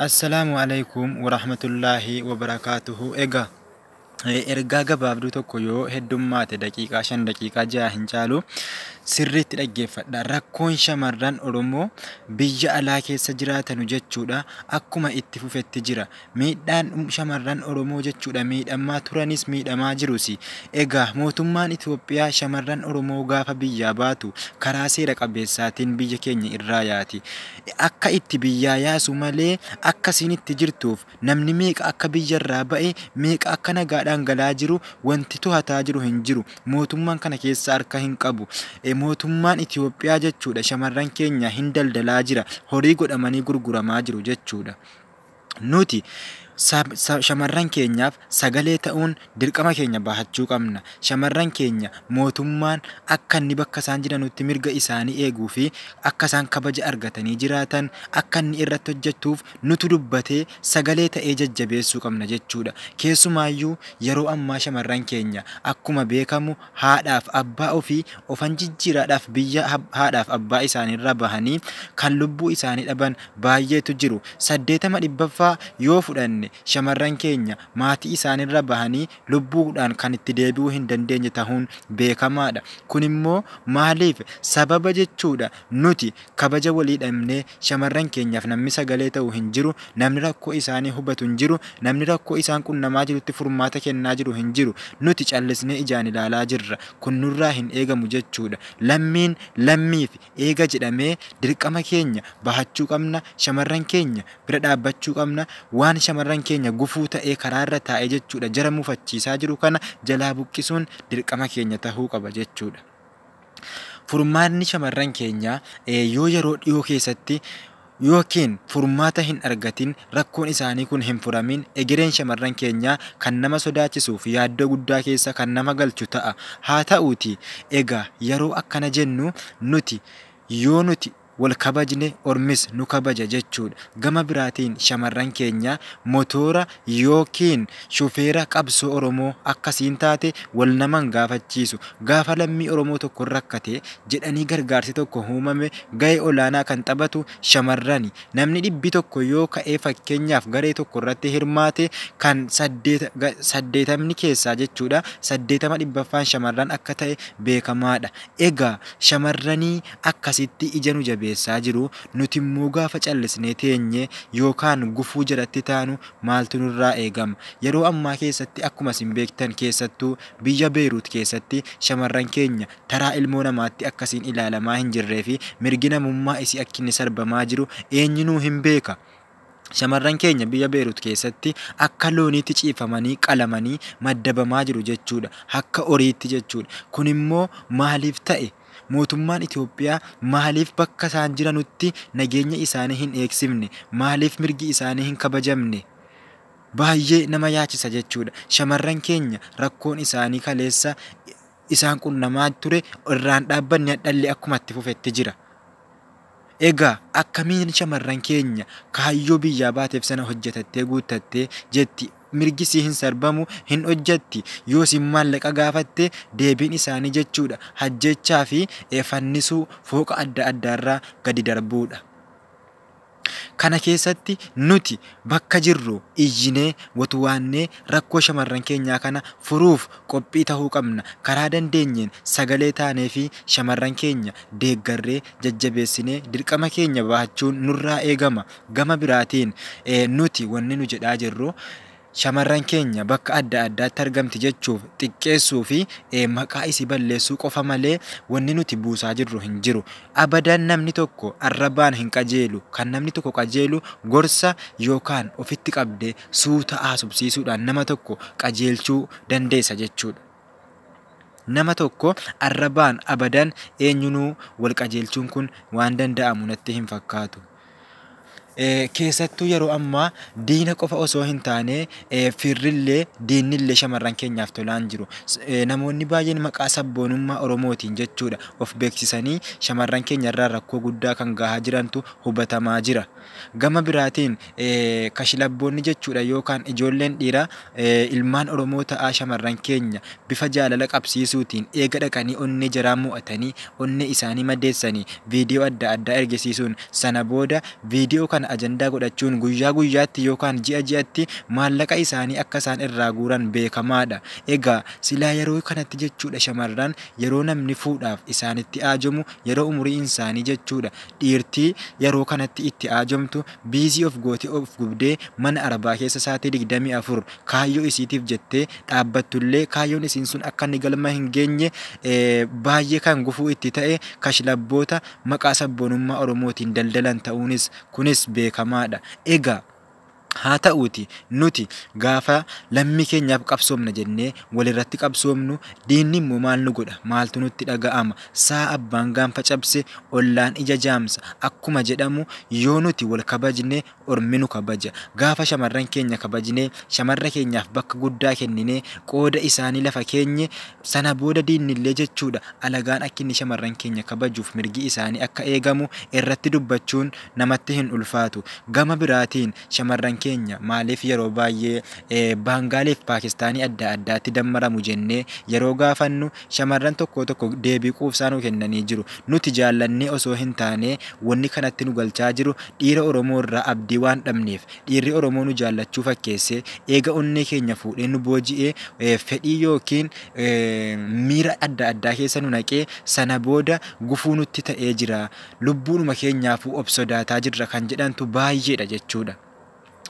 Assalaamu alaikum warahmatullaahi wabarakaatuhu Egaa eh, ergaa gabaabduu tokko yoo heddummaate daqiiqaa shan daqiiqaa ja'a hin caalu sirriitti dhaggeeffadha. Rakkoon shamarran Oromoo biyya alaa keessa jiraatanu jechuudha akkuma itti fufetti jira. Miidhaan shamarran Oromoo jechuudha miidhammaa turanis miidhamaa jirusi. Egaa mootummaan Itoophiyaa shamarran Oromoo gaafa biyyaa baatu karaa seera qabeessaatiin biyya keenya irraa yaati. Akka itti biyyaa yaasu malee akka isiin itti jirtuuf namni meeqa akka biyyarraa ba'e meeqa akka nagaadhaan galaa jiru wanti tohataa jiru hin jiru. Mootummaan kana keessa harka hin qabu. Mootummaan Itoophiyaa jechuudha shamarran keenya hin daldalaa jira. Horii godhamanii gurguramaa jiru jechuudha. Nuti shamarran keenyaaf sagalee ta'uun dirqama keenya bahachuu qabna. Shamarran keenya mootummaan akka inni bakka isaan jiranutti mirga isaanii eeguu fi akka isaan kabaja argatanii jiraatan akka inni irratti hojjetuuf nutu dubbatee sagalee ta'ee jajjabeessuu qabna jechuudha. Keessumaayyuu yeroo ammaa shamarran keenya akkuma beekamu haadhaaf abbaa ofii ofan jijjiiraadhaaf biyya haadhaaf abbaa isaaniirraa bahanii kan lubbuu isaanii dhaban baay'eetu jiru. Saddeetama dhibbaffaa yoo fudhanne shamarran keenya maatii isaaniirra bahanii lubbuudhaan kan itti deebi'uu hin dandeenye tahuun beekamaadha. Kunimmoo maaliif sababa jechuudha nuti Kabaja walii dhabnee, shamarran keenyaaf namni sagalee ta'u hin jiru, namni rakkoo isaanii hubatu hin jiru, namni rakkoo isaan qunnamaa jirutti furmaata kennaa jiru hin jiru. Nuti callisnee ijaan ilaalaa jirra. Kun nurraa hin eegamu jechuudha. Lammiin lammiif eega jedhamee dirqama keenya bahachuu qabna, shamarran keenya bira dhaabbachuu qabna. Waan shamarran keenya gufuu ta'ee karaarra taa'ee jechuudha jara mufachiisaa jiru kana jalaa buqqisuun dirqama keenya ta'uu qaba jechuudha. Furmaatni shamarran keenyaa yoo yeroo dhiyoo keessatti ykn furmaata hin argatin rakkoon isaanii kun hin furamin egereen shamarran keenyaa kan nama sodaachisuu fi yaaddoo guddaa keessa kan nama galchu ta'a. Haa ta'uutii egaa yeroo akkana jennu nuti yoo nuti wal kabajne ormis nu kabaja jechuudha. Gama biraatiin shamarran keenya motoora ykn shufeera qabsoo Oromoo akka siin taate wal nama hin gaafachiisu. Gaafa lammii Oromoo tokkon rakkate jedhanii gargaarsi tokko uumame gahee olaanaa kan taphatu shamarrani. Namni dhibbi tokko yoo ka'ee fakkeenyaaf garee tokko irratti hirmaate kan 80n keessaa jechuudha 80 dhibbaffaan shamarran akka ta'e beekamaadha. Egaa shamarranii akkasitti ija nu jabeessaa jiru, nutimmoo gaafa callisnee teenye yookaan gufuu jalatti taanu maaltu nurraa eegama? Yeroo ammaa keessatti akkuma isin beektan keessattuu biyya Beeruut keessatti shamarran keenya taraa ilmoo namaatti akkasiin ilaalamaa hin jirreefi mirgi namummaa isii akkinni sarbamaa jiru eenyunuu hin beeka. Shamarran keenya biyya Beerut keessatti akka looniitti ciibfamanii qalamanii maddabamaa jiru jechuudha. Akka horiitti jechuudha. Kunimmoo maaliif ta'e? Mootummaan Itoophiyaa maaliif bakka isaan jiranutti nageenya isaanii hin eegsifne? Maaliif mirgi isaanii hin kabajamne? Baay'ee nama yaachisa jechuudha. Shamarran keenya rakkoon isaanii kaleessa isaan qunnamaa ture irraan dhaabbanne hadhallee akkuma itti fufetti jira. Egaa akkamiin shamarran keenya kaayyoo biyyaa baateef sana hojjetattee guuttattee jetti? Mirgi sii hin sarbamu, hin hojjetti, yoo siin maallaqa gaafatte deebiin isaanii jechuudha hajjeechaa fi fannisuu fooqa adda addaarraa gadi darbuudha. Kana keessatti nuti bakka jirru iyyinee, wotwaannee rakkoo shamarran keenyaa kana furuuf qophii tahuu qabna. Karaa dandeenyeen sagalee taaneefii shamarran keenya deeggarree jajjabeessinee dirqama keenya bahachuun nurraa eegama. Gama biraatiin nuti wanni nu jedhaa jirru shamarran keenya bakka adda addaatti argamti jechuuf xiqqeessuu fi maqaa isii balleessuu qofa malee wanni nuti buusaa jirru hin jiru. Abadan namni tokko arrabaan hin qajeelu. Kan namni tokko qajeelu gorsa yookaan ofitti qabdee suuta haasofsiisuudhaan nama tokko qajeelchuu dandeessa jechuudha. Nama tokko arrabaan abadan eenyunuu wal qajeelchuun kun waan danda'amu natti hin fakkaatu. Keessattuu yeroo ammaa diina qofa osoo hin taane firrillee diinnillee shamarran keenyaaf tolaa hin jiru. Namoonni baay'een maqaa sabboonummaa Oromootiin jechuudha of beeksisanii shamarran keenyarraan rakkoo guddaa kan gahaa jirantu hubatamaa jira. Gama biraatiin, kashlabboonni jechuudha yookaan ijoolleen dhiiraa ilmaan Oromoo ta'aa shamarran keenya bifa jaalala qabsiisuutiin eega dhaqanii onnee jaraa mo'atanii onnee isaanii madeessanii viidiyoo adda addaa ergisiisuun sana booda viidiyoo kana ajandaa godhachuun guyyaa guyyaatti yookaan ji'a ji'atti maallaqa isaanii akka isaan irraa guuran beekamaadha. Egaa silaa yeroo kanatti jechuudha shamarran yeroo namni fuudhaaf isaanitti aajomu yeroo umuriinsaanii jechuudha Dhiirtii yaroo kanatti itti aajomtu biizii of gootee of gubdee mana arbaa keessa saatii 24 kaayyoo isiitiif jettee dhaabbattullee kaayyoon isiin sun akka inni galma hin geenye baay'ee kan gufuu itti ta'e kashlabboota maqaa sabboonummaa Oromootiin daldalan ta'uunis kunis beekamaadha. Egaa. Haa ta'uutii nuti gaafa lammii keenyaaf qabsoomna jennee walirratti qabsoomnu diinnimmoo maal nu godha? Maaltu nutti dhaga'ama? Sa'a abbaan gaanfa cabse ollaan ija jaamsa akkuma jedhamu yoo nuti wal kabajne ormi nu kabaja. Gaafa shamarran keenya kabajnee shamarra keenyaaf bakka guddaa kenninee qooda isaanii lafa keenye sana booda diinnillee jechuudha alagaan akkinni shamarran keenya kabajuuf mirgi isaanii akka eegamu irratti dubbachuun namatti hin ulfaatu. Gama biraatiin shamarran keenya maaliif yeroo baay'ee Baangaalii fi Paakistaanii adda addaatti dammaramu jennee yeroo gaafannu shamarran tokkoo tokko deebii quubsaa nu kennanii jiru. Nuti jaallannee osoo hin taane wanni kanatti nu galchaa jiru dhiira Oromoo irraa abdii waan dhabneef. Dhiirri Oromoo nu jaallachuu fakkeessee eega onnee keenya fuudhee nu booji'ee fedhii ykn miira adda addaa keessa nu naqee sana booda gufuu nutti ta'ee jira. Lubbuunuma keenyaafuu of sodaataa jirra kan jedhantu baay'eedha jechuudha.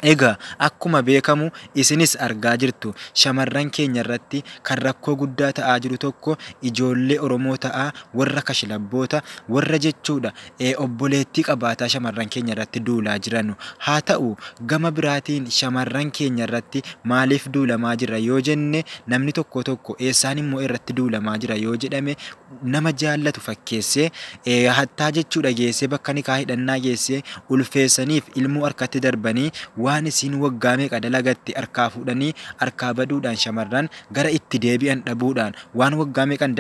Egaa akkuma beekamu isinis argaa jirtu shamarran keenyarratti kan rakkoo guddaa ta'aa jiru tokko ijoollee Oromoo ta'aa warra kashlabboota warra jechuudha obboleettii qabaataa shamarran keenyarratti duulaa jiranu. Haa ta'u gama biraatiin shamarran keenyarratti maaliif duulamaa jira yoo jenne namni tokkoo tokko eessaanimmoo irratti duulamaa jira yoo jedhame nama jaallatu fakkeessee, hattaa jechuu dhageessee bakka nikaa hidhannaa geessee, ulfeessaniif ilmoo harkatti darbanii, waan isiin waggaa meeqa dalagatte harkaa fuudhanii harkaa baduudhaan shamarran gara itti deebi'an dhabuudhaan, waan waggaa meeqan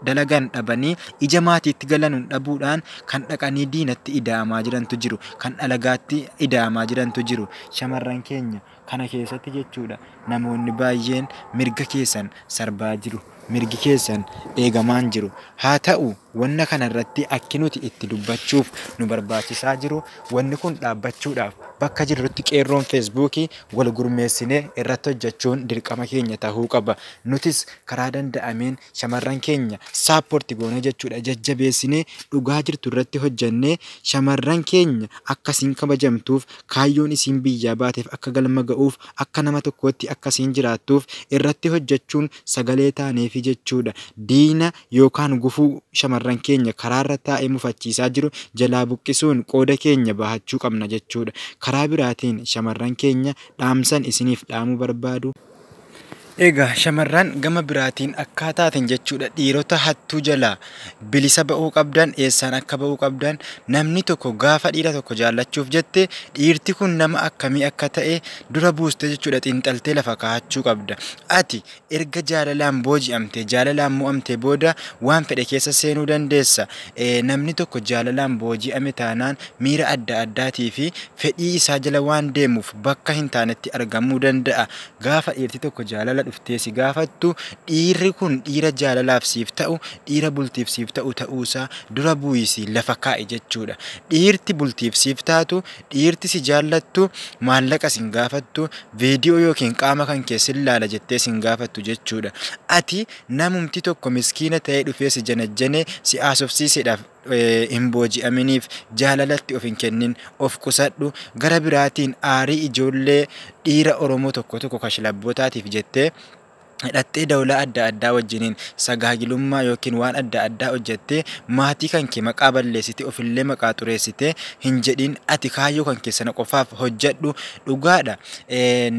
dalagan dhabanii ija maatiitti galanuun dhabuudhaan kan dhaqanii diinatti ida'amaa jirantu jiru, kan alagaatti ida'amaa jirantu jiru. Shamarran keenya. Kana keessatti jechuudha namoonni baay'een mirga keessan sarbaa jiru. Mirgi keessan eegamaa hin jiru. Haa ta'u wanna kana irratti akki nuti itti dubbachuuf nu barbaachisaa jiru wanni kun dhaabbachuudhaaf bakka jirrutti qeerroon feesbuukii wal gurmeessinee irratti hojjechuun dirqama keenya ta'uu qaba. Nutis karaa danda'ameen shamarran keenya saapporti goonee jechuudha jajjabeessinee dhugaa jirtu irratti hojjennee shamarran keenya akkasiin kabajamtuuf Kaayyoon isiin biyyaa baateef akka galma ga'uuf, akka nama tokkootti akka isiin jiraattuuf irratti hojjachuun sagalee taaneefi jechuudha. Diina yookaan gufuu shamarran keenya karaarra taa'ee mufachiisaa jiru jalaa buqqisuun qooda keenya bahachuu qabna jechuudha. Karaa biraatiin shamarran keenya dhaamsan isiniif dhaamuu barbaadu. Egaa shamarran gama biraatiin akkaa taaten jechuudha dhiirota hattuu jalaa bilisa ba'uu qabdan eessaan akka ba'uu qabdan namni tokko gaafa dhiira tokko jaallachuuf jette dhiirti kun nama akkamii akka ta'e dura buustee jechuudha xiinxaltee lafa kaa'achuu qabda ati erga jaalalaan booji'amte jaalalaan mo'amte booda waan fedhe keessa seenuu dandeessa namni tokko jaalalaan booji'ame taanaan miira adda addaatii fi fedhii isaa jala waan deemuuf bakka hin taanetti argamuu danda'a. Gaafa dhiirti tokko jaalala dhuftee si gaafattu dhiirri kun dhiira jaalalaaf siif ta'u, dhiira bultiif siif ta'u ta'uusaa dura bu'iisii lafa kaa'i jechuudha. Dhiirti bultiif siif taatu, dhiirti si jaallattu maallaqa sin gaafattu, veediyoo yookiin qaama kan kee sin laala jettee sin gaafattu jechuudha. Ati namumti tokko miskiina ta'ee dhufee si janajjanee si haasofsiiseedhaaf hin booji'aminiif jaalalatti of hin kennin, of qusadhu. Gara biraatiin aarii ijoollee dhiira Oromoo tokko tokko kashlabbootaatiif jettee hidhattee dawlaa adda addaa wajjiniin sagaagilummaa yookiin waan adda addaa hojjattee maatii kan kee maqaa balleessite ofillee maqaa xureessite hin jedhin ati kaayyoo kan keessana qofaaf hojjadhu dhugaadha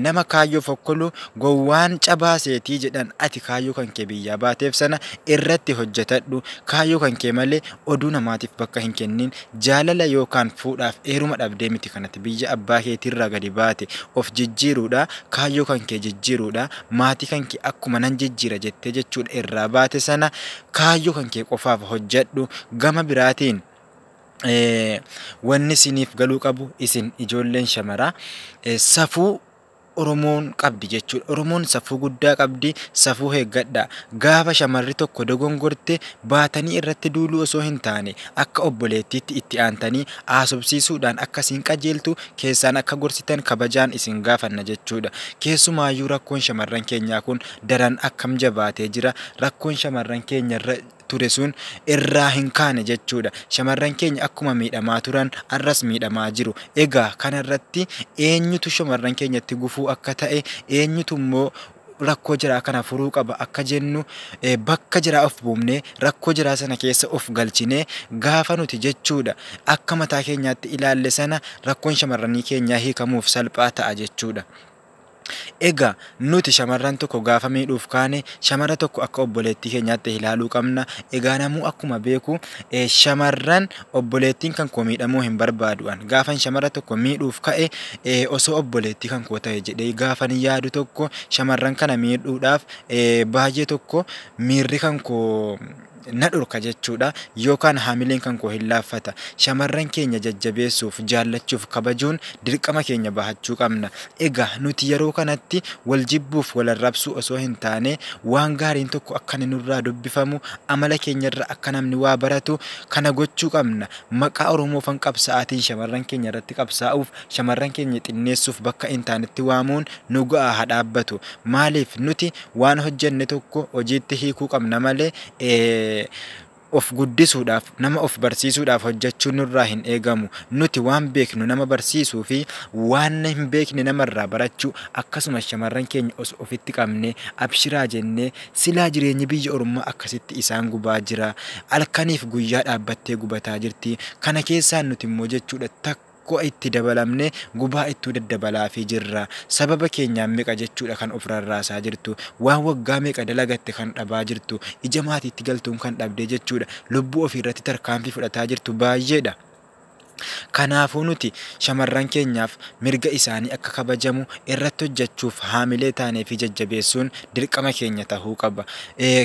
nama kaayyoo fokkolu gowwaan cabaa seetii jedhan ati kaayyoo kan kee biyyaa baateef sana irratti hojjetadhu, kaayyoo kan kee malee oduu namaatiif bakka hin kennin, jaalala yookaan fuudhaaf eeruma dhabdee miti kan ati biyya abbaa keetiirraa gadi baate, of jijjiiruudha, kaayyoo kan kee jijjiiruudha, maatii kan kee akkuma nan jijjiira jettee jechuudha irraa baate sana kaayyoo kan kee qofaaf hojjedhu, gama biraatiin wanni isiniif galuu qabu isin ijoolleen shamaraa safuu Oromoon qabdi jechuudha. Oromoon safuu guddaa qabdi. Safuu eeggadhaa. Gaafa shamarri tokko dogongorte baatanii irratti duuluu osoo hin taane akka obboleettiitti itti aantanii haasofsiisuudhaan akka isin qajeeltu keessaan akka gorsitan kabajaan isin gaafanna jechuudha. Keessumaayyuu rakkoon shamarran keenyaa kun daran akkam jabaatee jira. Rakkoon shamarran keenyarra ture sun irraa hin kaane jechuudha. Shamarran keenya akkuma miidhamaa turan har'as miidhamaa jiru. Egaa kanarratti eenyutu shamarran keenyatti gufuu akka ta'e eenyutu immoo rakkoo jiraa kana furuu qaba akka jennu eh, bakka jiraa of buufnee rakkoo jiraa sana keessa of galchinee gaafa nuti jechuudha akka mataa keenyaatti ilaalle sana rakkoon shamarranii keenyaa hiikamuuf salphaa ta'a jechuudha. Egaa, nuti shamarran tokko gaafa miidhuuf kaane, shamara tokko akka obboleettii keenyaatti ilaaluu qabna. Egaa namuu akkuma beeku shamarran obboleettiin kan koo miidhamuu hin barbaadu an. Gaafan shamara tokko miidhuuf ka'e osoo obboleettii kan koo ta'e jedhee gaafan yaadu tokko shamarran kana miidhuudhaaf baay'ee tokko miirri kan koo na dhorka jechuudha, yookaan haamileen kan koo hin laaffata. Shamarran keenya jajjabeessuuf, jaallachuuf, kabajuun dirqama keenya bahachuu qabna. Egaa nuti yeroo kanatti wal jibbuuf wal arrabsuu osoo hin taane waan gaariin tokko akka inni nurraa dubbifamu, amala keenyarraa akka namni waa baratu kana gochuu qabna. Maqaa Oromoofan qabsaa'aatiin shamarran keenya irratti qabsaa'uuf, shamarran keenya xinneessuuf bakka hin taanetti waamuun nu ga'a haa dhaabbatu. Maaliif nuti Waan hojjenne tokko hojiitti hiikuu qabna malee of guddisuudhaaf, nama of barsiisuudhaaf hojjechuun nurraa hin eegamu. Nuti waan beeknu nama barsiisuu fi waan hin beekne namarraa barachuu akkasumas shamarran keenya osoo ofitti qabnee abshiraa jennee silaa jireenyi biyya ormaa akkasitti isaan gubaa jira. Halkaniif guyyaa dhaabbattee gubataa jirti. Kana keessaa nuti immoo jechuudha takka Ko'a itti dabalamne gubaa ittuu daddabalaafii jirra. Sababa keenyaan meqa jechuudha kan of rarraasaa jirtu. Waan waggaa meeqa dalagatte kan dhabaa jirtu. Ija maatiitti galtuun kan dhabdee jechuudha. Lubbuu ofii irratti tarkaanfii fudhataa jirtu baayyeedha. Kanaafuu nuti shamarran keenyaaf mirga isaanii akka kabajamu irratti hojjachuuf haamilee taanee fi jajjabeessuun dirqama keenya tahuu qaba.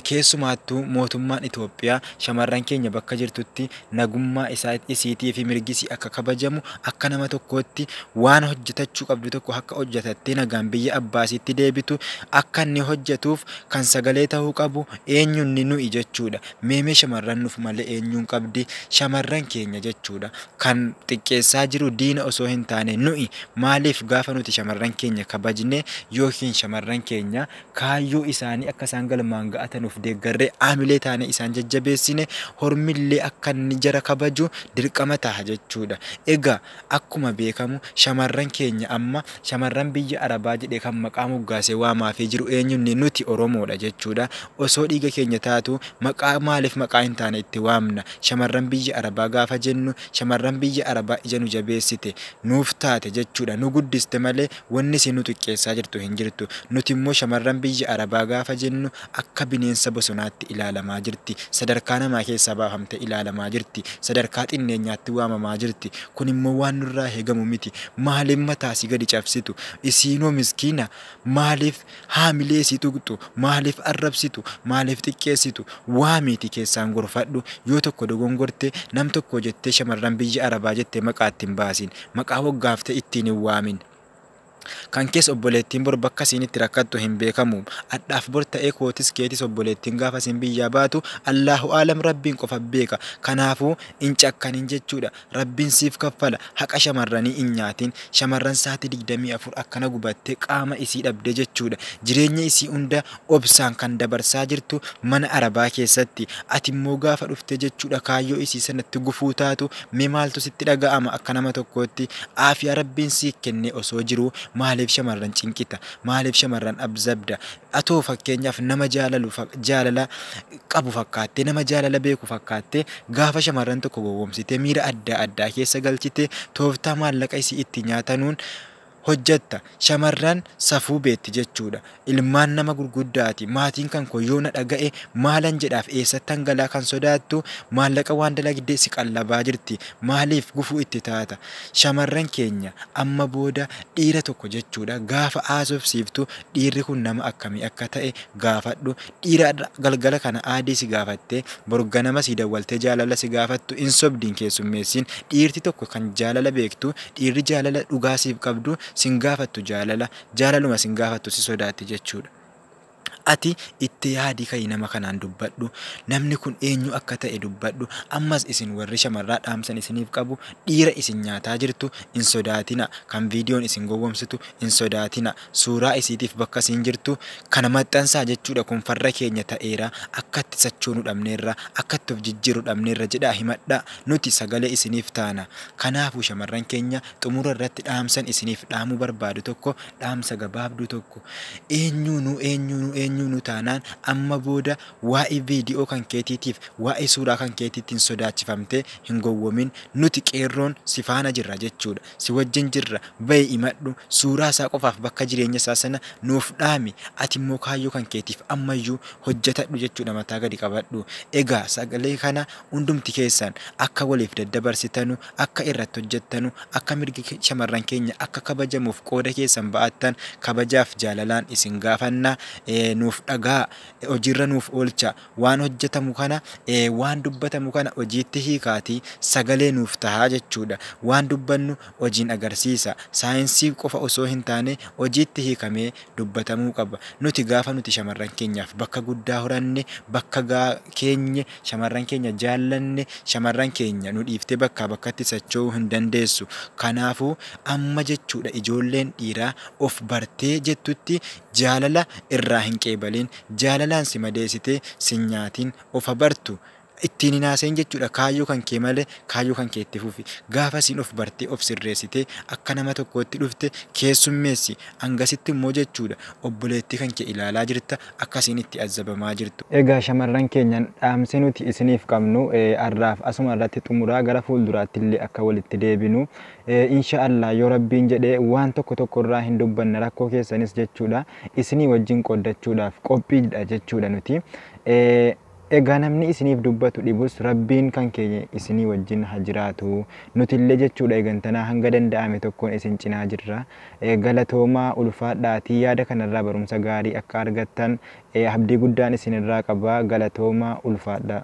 Keessumaattuu mootummaan Itoophiyaa shamarran keenya bakka jirtutti nagummaa isaa, isiitii fi mirgi isii akka kabajamu, akka nama tokkootti waan hojjatachuu qabdu tokko akka hojjatattee nagaan biyya abbaa isiitti deebitu akka inni hojjatuuf kan sagalee ta'uu qabu eenyu inni nu'i jechuudha. Meemee shamarran nuf malee eenyuun qabdi? Shamarran keenya jechuudha. Kan xiqqeessaa jiru diina osoo hin taane nu'i. Maaliif gaafa nuti shamarran keenya kabajne yookiin shamarran keenya Kaayyoo isaanii akka isaan galmaan ga'atanuuf deeggarree aamilee taanee isaan jajjabeessine hormillee akka inni jara kabaju dirqama taha jechuudha. Egaa akkuma beekamu shamarran keenya amma shamarran biyya Arabaa jedhee kan maqaa moggaasee waamaafii jiru eenyunni nuti Oromoodha jechuudha. Osoo dhiiga keenya taatuu maqaa maaliif maqaa hin taane itti waamna? Shamarran biyya Arabaa gaafa jennu shamarran biyya Arabaa ija nu jabeessite, nuuf taate jechuudha. Nu guddiste malee Wanni isin nu xiqqeessaa jirtu hin jirtu. Nuti immoo shamarran biyya Arabaa gaafa jennu akka bineensa bosonaatti ilaalamaa jirti. Sadarkaa namaa keessaa baafamtee ilaalamaa jirti. Sadarkaa xinneenyaatti waamamaa jirti. Kun immoo waan nurraa eegamu miti. Maaliif mataa si gadi cabsitu? Isiinoo miskiina maaliif Haamilee si tuqxu maaliif arrabsitu? Maaliif xiqqeessitu? Waamiitii keessaan gorfadhu. Yoo tokko dogongorte, nam tokkoo jettee shamarran biyya Arabaa jettee maqaa itti hin baasin. Maqaa hoggaafte ittiin hin waamin. Kan kees obboleettiin bor bakka isiin itti rakkattu hin beekamu. Adhaaf bor ta'ee kootis keetis obboleettiin gaafa isiin biyyaa baatu Allaahu a'alam Rabbiin qofa beeka. Kanaafuu hin cakkanin jechuudha. Rabbin siif kaffala haqa shamarranii in nyaatin shamarran saati digdamii afur akkana gubatte qaama isii dhabdee jechuudha jireenya isii hunda obsaan kan dabarsaa jirtu mana arabaa keessatti ati immoo gaafa dhuftee jechuudha kaayyoo isii sanatti gufuu taatu mee maaltu sitti dhaga'ama akka nama tokkootti aafiyaa rabbiin siih kennee osoo jiruu maaliif shamarran cinqita maaliif shamarran abzabda atoo fakkeenyaaf nama jaalalu jaalala qabu fakkaattee, nama jaalala beeku fakkaattee, gaafa shamarran tokko gowwoomsitee miira addaa addaa keessa galchite, tooftaa maallaqa isii itti nyaatanuun hojjatta. Shamarran safuu beetti jechuudha. Ilmaan nama gurguddaati. Maatiin kan koo yoo na dhaga'e maalan jedhaaf eessattan galaa kan sodaattu maallaqa waan dalagde si qallabaa jirti. Maaliif gufuu itti taata? Shamarran keenya amma booda dhiira tokko jechuudha gaafa haasofsiiftu dhiirri kun nama akkamii akka ta'e gaafadhu. Dhiira har'a galgala kana aadee si gaafattee boru ganama sii dawwaltee jaalala si gaafattu hin sobdi hin keessummeessiin. Dhiirti tokko kan jaalala beektu, dhiirri jaalala dhugaa siif qabdu sin gaafattu jaalala, jaalaluma sin gaafattu si sodaatti jechuudha. Ati itti yaadii ka'ii nama kanaan dubbadhu, namni kun eenyu akka ta'e dubbadhu. Ammas isin warri shamarraa dhaamsan isiniif qabu, dhiira isin nyaataa jirtu hin sodaatinaa, kan viidiyoon isin gowwomsitu hin sodaatinaa. Suuraa isiitiif bakka isiin jirtu kana maxxansaa jechuudha kun farra keenya ta'eera akkatti sachoonu dhabneerra akkatti of jijjiirru dhabneerra jedhaa himadhaa nuti sagalee isiniif taana kanaafu shamarran keenya xumura irratti dhaamsan isiniif dhaamuu barbaadu tokko dhaamsa gabaabduu tokko eenyuunuu eenyuunuu eenyuunuu taanaan amma booda waa'ee vedio kan keetiitiif waa'ee suuraa kan keetiitiin sodaachifamtee hin gowwomin nuti qeerroon si faana jirra jechuudha Si wajjin jirra, ba'i imadhu, suuraa isaa qofaaf bakka jireenya isaa sana nuuf dhaami, ati immoo kaayyoo kan keetiif amma iyyuu hojjetadhu jechuudha mataa gadi qabadhu. Egaa sagalee kana hundumti keessan akka waliif daddabarsitanu, akka irratti hojjettanu, akka mirgi shamarran keenya akka kabajamuuf qooda keessan ba'attan kabajaaf jaalalaan isin gaafanna. Nuuf dhagahaa, hojiirra nuuf oolchaa. Waan hojjetamu kana, waan dubbatamu kana hojiitti hiikaatii sagalee nuuf tahaa jechuudha. Waan dubbannu hojiin agarsiisa. Saayinsii qofa osoo hin taane hojiitti hiikamee dubbatamuu qaba. Nuti gaafa nuti shamarran keenyaaf bakka guddaa horanne, bakka gaa keenye, shamarran keenya jaallanne, shamarran keenya nu dhiiftee bakkaa bakkatti socho'uu hin dandeessu. Kanaafuu amma jechuudha ijoolleen dhiiraa of bartee jettutti Jaalala irraa hin qeebaliin. Jaalalaan si madeesitee sin nyaatiin. Of ha bartu. Ittiin hin haasa'iin jechuudha. Kaayyoo kan kee malee kaayyoo kan kee itti fufi. Gaafa isiin of bartee of sirreessitee akka nama tokkootti dhufte keessummeessi. Hangasitti immoo jechuudha obboleettii kan kee ilaalaa jirta akka isiin itti azzabamaa jirtu. Egaa shamarran keenya dhaamsi nuti isiniif qabnu har'aaf asuma irratti xumura. Gara fuulduraatti illee akka walitti deebinu Insha Allah yoo Rabbiin jedhe waan tokko tokko irraa hin dubbanna rakkoo keessanis jechuudha isinii wajjin qooddachuudhaaf qophiidha jechuudha nuti. Egaa namni isiniif dubbatu dhibus Rabbiin kan keenya isinii wajjin ha jiraatu. Nutillee jechuudha egantanaa hanga danda'ame tokkoon isin cinaa jirra. Galatoomaa ulfaadhaatii yaada kanarraa barumsa gaarii akka argattan abdii guddaan isinirraa qaba. Galatoomaa ulfaadhaa.